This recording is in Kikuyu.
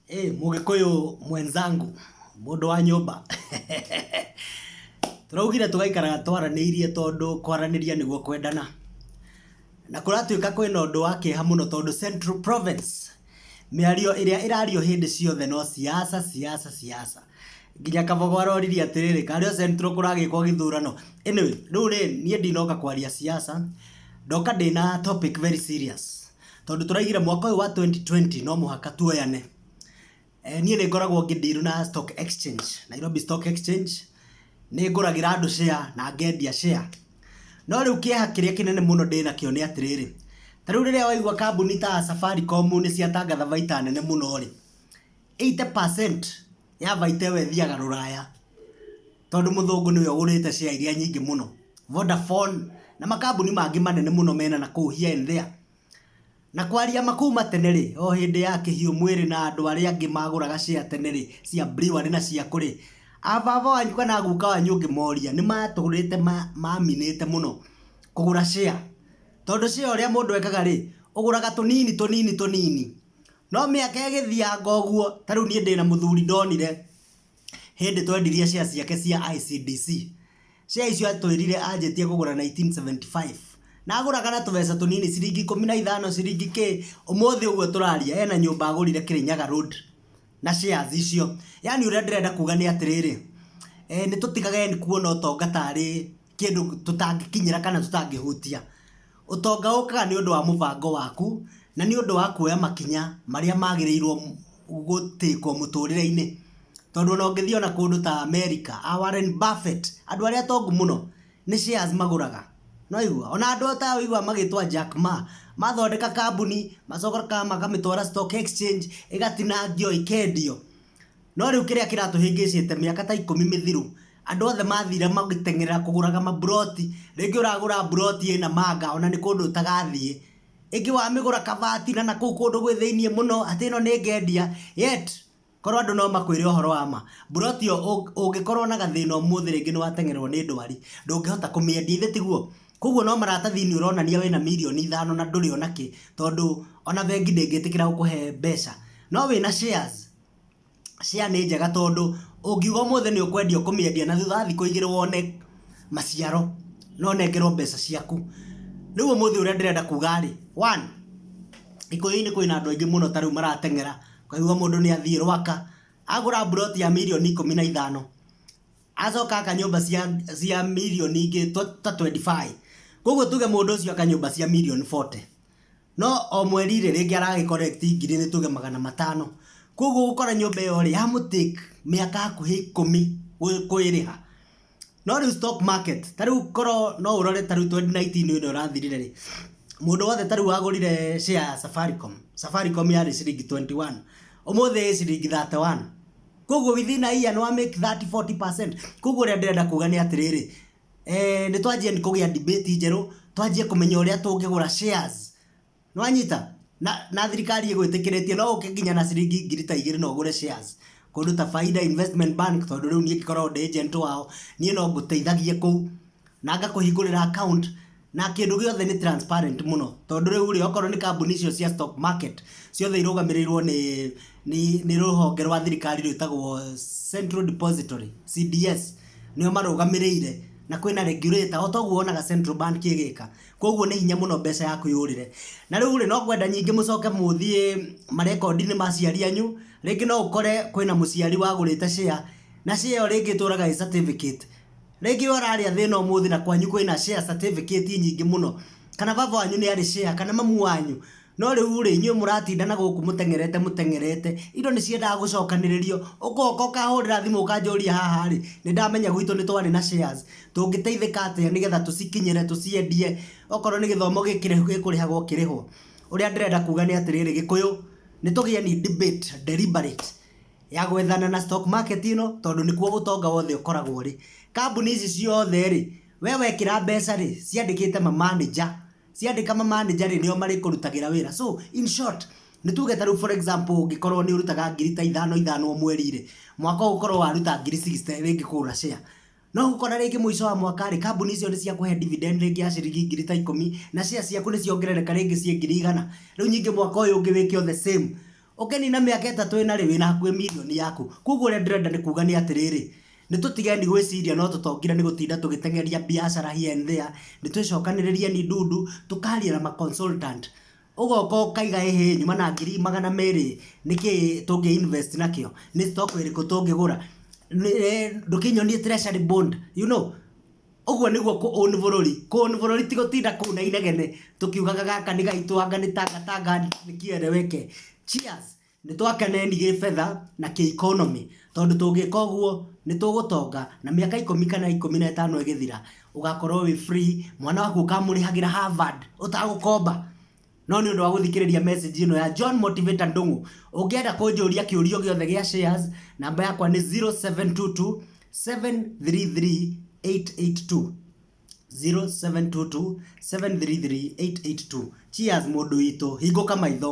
Hey, mugikuyu mwenzangu mundu wa nyumba turaugire tugaikaraga twaraniirie tondu kwaraniria niguo kwendana na kuratuika kwina undu wa kieha muno tondu Central Province miario iria irario hindi ciothe no siasa siasa siasa nginya kabogo aroriri atiriri kario Central kuragikwo githurano anyway riu ri nie ndinoka kwaria siasa ndoka ndina topic very serious tondũ tũraigire mwaka ũyũ wa 2020 no mũhaka tuoyane eh, niĩ nĩ ngoragwo ngĩndirũ na stock exchange nairobi stock exchange nĩ ngũragĩra andũ share na ngendia share no rĩu kĩeha kĩrĩa kĩnene mũno ndĩ nakĩo nĩ atĩrĩrĩ ta rĩu rĩrĩa waigua kambuni ta safaricom nĩ ciatangatha baita nene mũno rĩ Eighty percent ya baita ĩyo ĩthiaga rũraya, tondũ mũthũngũ nĩwe ũgũrĩte share iria nyingĩ mũno. Vodafone na makambuni mangĩ manene mũno mena nakũu here and there. Na kwaria ma kuma tene rĩ, o hĩndĩ ya kĩhiũ mwĩrĩ na andũ arĩa angĩ magũraga share tene rĩ, cia Brewery na cia kũ rĩ, a baba wanyu kana a guka wanyu ũngĩmoria, nĩ matũrĩte maminĩte mũno kũgũra share. Tondũ share ũrĩa mũndũ ekaga rĩ, ũgũraga tũnini tũnini tũnini. No mĩaka ĩgĩthianga ũguo, ta rĩu niĩ ndĩna mũthuri ndonire, hĩndĩ twendirie share ciake cia ICBC, share icio atwĩrire anjĩtie kũgũra nineteen seventy five, na agũraga na tũbeca tũnini ciringi ikũmi na ithano, ciringi kĩ, ũmũthĩ ũguo tũraria ena nyũmba agũrire Kĩrĩnyaga road na shares icio. Yaani ũrĩa ndĩrenda kuga nĩ atĩrĩrĩ, nĩ tũtigage kuona ũtonga tarĩ kĩndũ tũtangĩkinyĩra kana tũtangĩhutia. Ũtonga ũkaga nĩ ũndũ wa mũbango waku na nĩ ũndũ wa kuoya makinya marĩa magĩrĩirwo gũ take wo mũtũrĩre-inĩ. Tondũ ona ũngĩthiĩ ona kũndũ ta America, a Warren Buffett, andũ arĩa atongu mũno nĩ shares magũraga. Nĩ waigua? Ona andũ ta aya ũiguaga magĩtwo Jack Ma, mathondeka kambuni, macoka makamĩtwara stock exchange, ĩgatinangio, ĩkendio. No rĩu kĩrĩa kĩratũhĩngĩcĩte mĩaka ta ikũmi mĩthiru, andũ othe mathire magĩteng'erera kũgũraga maburoti rĩngĩ ũragũra buroti ĩ Namanga ona nĩ kũndũ ũtagathiĩ ĩngĩ wamĩgũra kabati na nakũu kũndũ gwĩ thĩiniĩ mũno atĩ ĩno nĩ ngendia yet korwo andũ no makwĩre ũhoro wa ma buroti ĩyo ũng- ũngĩkorwo na gathĩna ũmũthĩ rĩngĩ nĩ wateng'ererwo nĩ ndwari ndũngĩhota kũmĩendia ithe tiguo koguo no maratathi-inĩ ũronania wĩna mirioni ithano na ndũrĩ ona kĩ tondũ ona bengi ndĩngĩtĩkĩra gũkũhe mbeca no wĩna shares share nĩ njega tondũ ũngiuga ũmũthĩ nĩ ũkwendia ũkũmĩendia na thutha wa thikũ igĩrĩ wone maciaro na ũnengerwo mbeca ciaku. Rĩu ũmũthĩ ũrĩa ndĩrenda kuga rĩ, one, Gĩkũyũ-inĩ kwĩna andũ aingĩ mũno ta rĩu marateng'era, ũkaigua mũndũ nĩ athiĩ Rwaka, agũra mburoti ya mirioni ikũmi na ithano, acoka aka nyũmba cia mirioni ingĩ ta twenty five. Kwoguo tuge mũndũ ũcio aka nyũmba cia mirioni forty. No o mweri rĩ, rĩngĩ ara collect ngiri nĩ tuge magana matano. Kũguo ũgũkora nyũmba ĩyo rĩ, ya mũ take mĩaka hakuhĩ ikũmi kũĩrĩha. No rĩu stock market, ta rĩu korwo no ũrore ta rĩu twenty nineteen ĩno ĩrathirire rĩ, mũndũ wothe ta rĩu wagũrire share ya Safaricom, Safaricom yarĩ ciringi twenty one, ũmũthĩ ĩĩ ciringi thirty one. Kũguo within a year nĩ wa make thirty, forty percent. Kũguo ũrĩa ndĩrenda kuga nĩ atĩrĩrĩ, eh, nĩ twanjie kũgĩa debate njerũ twanjie kũmenya ũrĩa tũngĩgũra shares nĩwanyita na, na thirikari ĩgwĩtĩkĩrĩtie no ũke nginya na ciringi ngiri ta igĩrĩ na ũgũre shares kũndũ ta Faida Investment Bank tondũ rĩu niĩ ngĩkoragwo ndĩ agent wao niĩ no ngũteithagie kũu na ngakũhingũrĩra account na kĩndũ gĩothe nĩ transparent mũno tondũ rĩu rĩ okorwo nĩ kambuni icio cia stock market ciothe irũgamĩrĩirwo nĩ nĩ nĩ rũhonge rwa thirikari rwĩtagwo Central Depository CDS nĩo marũgamĩrĩire na kwĩna regulator o toguo wonaga Central Bank ĩgĩka koguo nĩ hinya mũno mbeca yaku yũrĩre na rĩu rĩ no kwenda nyingĩ mũcoke mũthiĩ marekondi-inĩ ma aciari anyu rĩngĩ no ũkore kwĩna mũciari wagũrĩte share na share ĩyo rĩngĩ ĩtũraga ĩ certificate Rĩngĩ we ũrarĩ a thĩna ũmũthĩ na kwanyu kwĩna share certificate nyingĩ mũno, kana baba wanyu nĩ arĩ share, kana mamu wanyu, no rĩu rĩ, inyuĩ mũratinda na gũkũ mũteng'erete mũteng'erete, indo nĩ ciendaga gũcokanĩrĩrio, ũgoka ũkahũrĩra thimũ ũkanjũria haha rĩ, nĩ ndamenya gwitũ nĩ twarĩ na shares, tũngĩteithĩka atĩa nĩgetha tũcikinyĩre, tũciendie, okorwo nĩ gĩthomo gĩkũrĩhagwo ũkĩrĩhwo. Ũrĩa ndĩrenda kuga nĩ atĩrĩrĩ, Gĩkũyũ, nĩ tũgĩe ni debate, deliberate, ya gwethana na stock market ĩno tondũ nĩkuo ũtonga wothe ũkoragwo rĩ kambuni ici ciothe rĩ we wekĩra mbeca rĩ ciandĩkĩte ma manager ciandĩka ma manager rĩ nĩo marĩkũrutagĩra wĩra so in short nĩ tuge ta rĩu for example ũngĩkorwo nĩ ũrutaga ngiri ta ithano ithano o mweri rĩ mwaka ũgũkorwo waruta ngiri 60 rĩngĩ kũgũra share No gũkora rĩngĩ mũico wa mwaka rĩ, kambuni icio nĩ ciakũhe dividend rĩngĩ ya ciringi ngiri ta ikũmi, na share ciaku nĩ ciongerereka rĩngĩ ciĩ ngiri igana. Rĩu nyingĩ mwaka ũyũ ũngĩ wĩke o the same. Ũngĩnina mĩaka ĩtatũ ĩna rĩ, wĩna hakuhĩ mirioni yaku. Kũguo ũrĩa ndĩrenda nĩ kuuga nĩ atĩrĩrĩ, nĩ tũtigeni gwĩciria no tũtongire nĩ gũtinda tũgĩteng'eria biacara here and there, nĩ twĩcokanĩrĩrieni ndundu, tũkaria na ma consultant. ũgoka ũkaiga ĩhĩ nyuma na ngiri magana merĩ nĩkĩ tũngĩ invest nakĩo nĩ stock ĩrĩkũ tũngĩgũra Nĩ- eh, ndũkĩnyonie treasury bond you know ũguo nĩguo kũ own bũrũri kũ own bũrũri ti gũtinda kũu na inegene tũkiugaga gaka nĩ gaitũ anga nĩ tangatanga nĩ kĩereweke cheers Nĩ twake neni gĩ betha na kĩ economy tondũ tũngĩka ũguo nĩ tũgũtonga na mĩaka ikũmi kana ikũmi na ĩtano ĩgĩthira ũgakorwo wĩ free mwana waku ũkamũrĩhagĩra Harvard ũtagũkomba. No nĩ ũndũ wa gũthikĩrĩria message ĩno ya John Motivator Ndung'u, ũngĩenda kũnjũria kĩũria o gĩothe gĩa shares, namba yakwa nĩ 0722 733 882. 0722 733 882. Cheers mũndũ witũ, hingũka maitho.